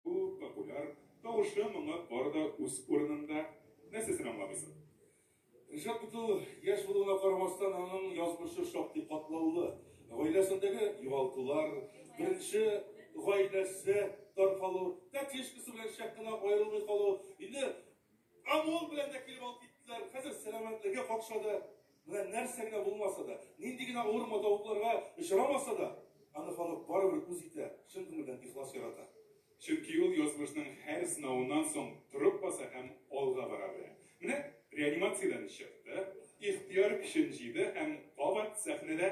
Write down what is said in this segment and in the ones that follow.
Бу популяр тавышы моңа бар да үз урынында. Нәрсә син аңламыйсың? Ришат бит ул яшь булуына карамастан, аның язмышы шактый катлаулы. Гаиләсендәге югалтулар, беренче гаиләсе таркалу, тәтешкасы белән шәп кенә аерылмый калу, инде ОМОН белән дә килеп алып киттеләр. Хәзер сәламәтлеге какшады. Менә нәрсә генә булмаса да, нинди генә авыр матавыкларга очрамаса да, аны халык барыбер үз итә, чын күңелдән ихлас ярата. Чөнки ул язмышның һәр сынавыннан соң торып баса һәм алга бара белә. Менә реанимациядән чыкты, ихтыяр көчен җыйды һәм кабат сәхнәдә.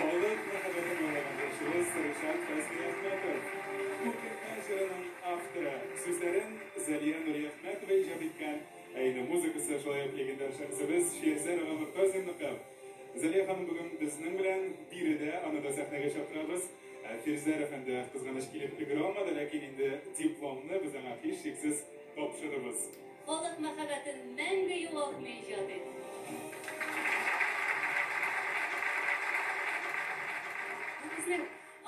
Халык мәхәббәтен яулаган җырчыбыз Ришат Фәйзниәхмәтов. Күргәзмә җырының авторы. Сүзләрен Зәлия Нуриәхмәтова иҗат иткән, ә инде музыкасы шулай ук легендар шәхесебез Шиәзәр ага Мортазинныкы. Зәлия ханым бүген безнең белән биредә, аны да сәхнәгә чакырабыз. Фирзәр әфәнде кызганыч килеп өлгерә алмады, ләкин инде дипломны без аңа һичшиксез Тапшырыгыз. Халык мәхәббәтен мәңге югалтмый иҗат ит. Бу безнең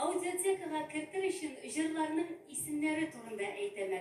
аудиотекага кертер өчен җырларның исемнәре турында әйтәм әле.